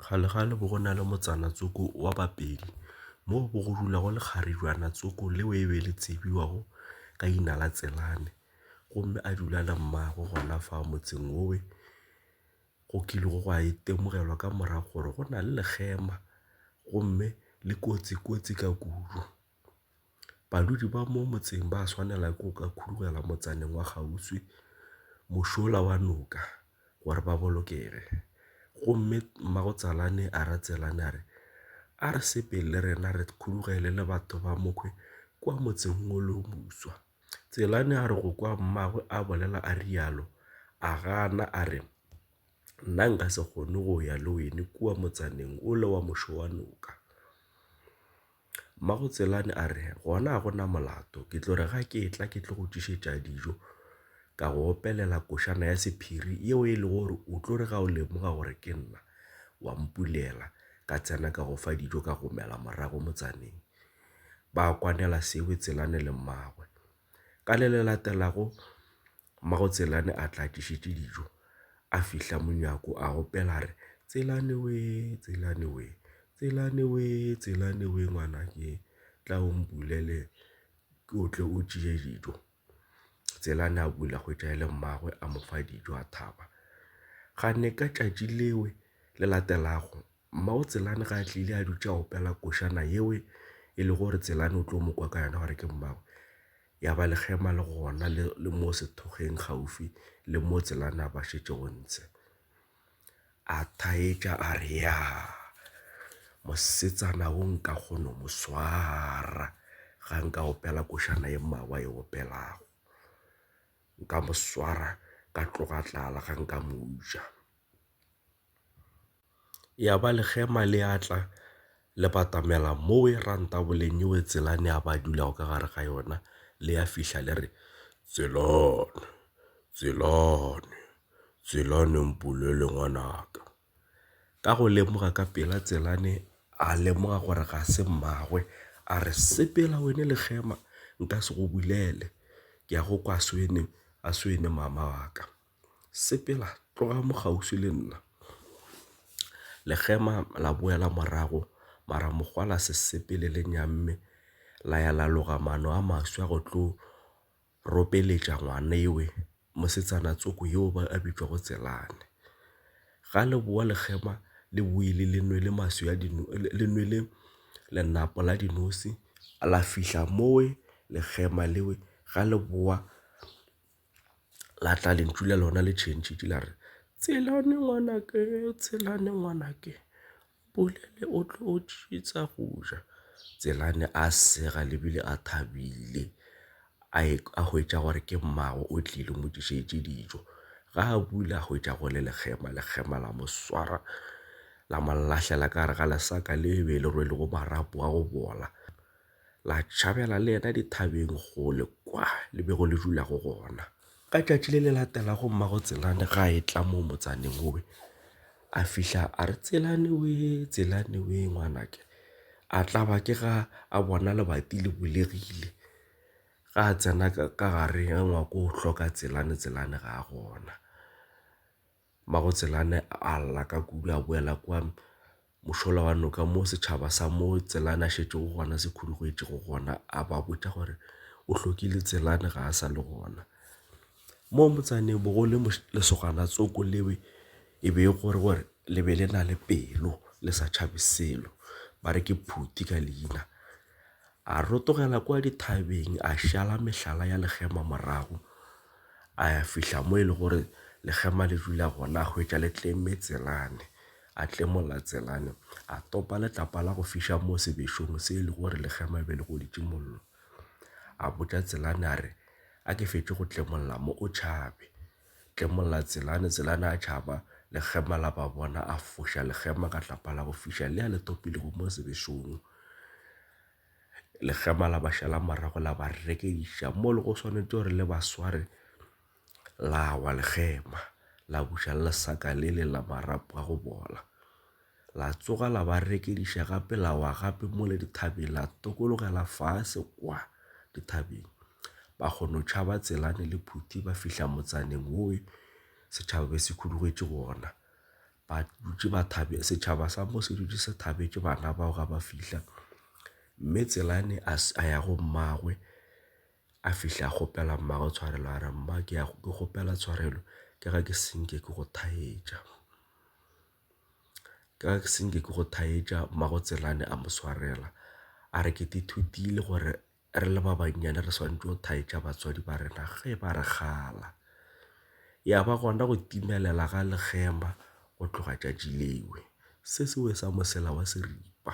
Kgalekgale bo go na le motsana Tsoko wa Bapedi mo bo go dulago lekgarijwana Tsoko leo e be le tsebiwago ka leina la Tselane gomme a dula le mmagwe gona fa motseng wo we go kilego gwa itemogelwa ka morago gore go na le lekgema gomme le kotsi kotsi ka kudu. Badudi ba mo motseng ba swanela ke go ka khudugela motsaneng wa kgauswi mošola wa noka gore ba bolokege. Gomme mmagotsalane a ra Tselane a re, A re sepele le rena re khudugele le batho ba mokhwi kua motseng wo le wo moswa. Tselane a re go kwa mmagwe a bolela a rialo, a gana a re, Nna nka se kgone go ya le wene kua motsaneng wole wa mošo wa noka. Mmagotselane a re, Gona ga go na molato, ke tlo re ga ke etla ke tlo go tlišetša dijo, ka go opelela košana ya sephiri yeo e lego gore o tlo re ga o lemoga gore ke nna, wa mpulela, ka tsena ka go fa dijo ka go mela morago motsaneng. Ba kwanela Seoetselane le mmagwe. Ka le le latelago, Mmago Tselane a tla tlišetše dijo, a fihla monyako a opela a re, Tselane wee, Tselane wee, Tselane wee, Tselane wee ngwana ke tla o mpulele o tle o tšee dijo. Tselane a bula hwetša e le mmagwe a mo fa dijo a thaba. Ga ne ka tšatši lewe le latelago Mmago Tselane ga a tlile a dutše a opela košana yeo e le gore Tselane o tlo mo kwa ka yona gore ke mmago. Ya ba lekgema le gona le, le mo sethokgeng kgaufsi le mo Tselane a ba šetše go ntshe. A thaetša a re, Ya, mosetsana wo nka kgono mo swara ga nka opela košana ye mmago a e opelago. Nka mo swara ka tloga tlala ga nka mo utswa. ya ba lekgema le a tla le batamela mo e ra ntaboleng yeo tselane a ba dulago ka gare ga yona le ya fihla le re tselane tselane tselane mpulele ngwanaka ka go lemoga ka pela tselane a lemoga gore ga se mmagwe a re sepela wena lekgema nka se go bulele ke ya go kwa swene a swene mama wa ka. Sepela tloga mo kgauswi le nna. Lekgema la boela morago mara mokgwa la se sepele le nyamme la ya la loga maano a maswi a go tlo ropeletša ngwanewe mosetsana tsoko yo a bitšwago Tselane. Ga le boa lekgema le boile le nwele maswi a le nwele lenapo la dinosi la fihla mowe lekgema lewe ga le boa la tla lentšu la lona le tšhentšhitše la re tshelane ngwanake tshelane ngwanake bolele o tlo tšitsa go ja tselane a sega lebile a thabile a e a hwetša gore ke mmago o tlile mo tlišetše dijo ga a bula a hwetša go le lekgema lekgema la mo swara la mo lahlela ka gare ga lesaka le be le rwele go marapo a go bola la tšhabela le yena dithabeng kgole kwa le bego le dula go gona ka tšatši le le latelago mmago tselane ga e tla mo motsaneng obe a fihla a re tselane we tselane we ngwanake a tla ba ke ga a bona lebati le bulegile ga a tsena ka gare ga ngwako o hloka tselane tselane ga a gona Magotselane a lla ka kudu a boela kua mošola wa noka mo setšhaba sa mo Tselane a šetšego gona se khudugetšego gona a ba botša gore o hlokile Tselane ga a sa le gona. Mo motsaneng bo go le lesogana tsoko leo e be e gore gore le be le na le pelo le sa tšhabe selo ba re ke Phuti ka leina. A rotogela kwa dithabeng a šala mehlala ya legema morago, a ya fihla mo e le gore legema le dula gona a hwetša le tlemme tselane. A tlemolla tselane, a topa letlapa la go fiša mo sebešong se e le gore legema be le goditše mollo. A botša tselane a re, A ke fetše go tlemolla mo o tšhabe. Tlemolla Tselane, Tselane a tšhaba, lekgema la ba bona, a foša lekgema ka tlapa la go fiša le a le topilego mo sebešong. Lekgema la ba šala morago la ba rekeiša mo le go swanetše gore le ba sware la wa lekgema la buša le lesaka le le la marapo a go bola. La tsoga la ba rekediša gape la wa gape mo le dithabeng la tokologela fase kwa dithabeng. Ba kgono tšhaba tselane le phuti ba fihla motsaneng woe setšhaba be se khudugetše gona. Ba dutše ba thabe setšhaba sa mo se dutše se thabetše bana bao ga ba fihla. Mme tselane a, a ya go mmagwe a fihla a kgopela mmagwe tshwarelo a re mma ke ya ke kgopela tshwarelo ke ga ke senke ke go thaetša. ka se nke ke go thaetša mmago Tselane a mo swarela a re ke ithutile gore re le ba bannyane re swanetše go thaetša batswadi ba rena ge ba re kgala. Ya ba gona go timelela ga lekgema go tloga tšatši leo se se wesa mosela wa seripa.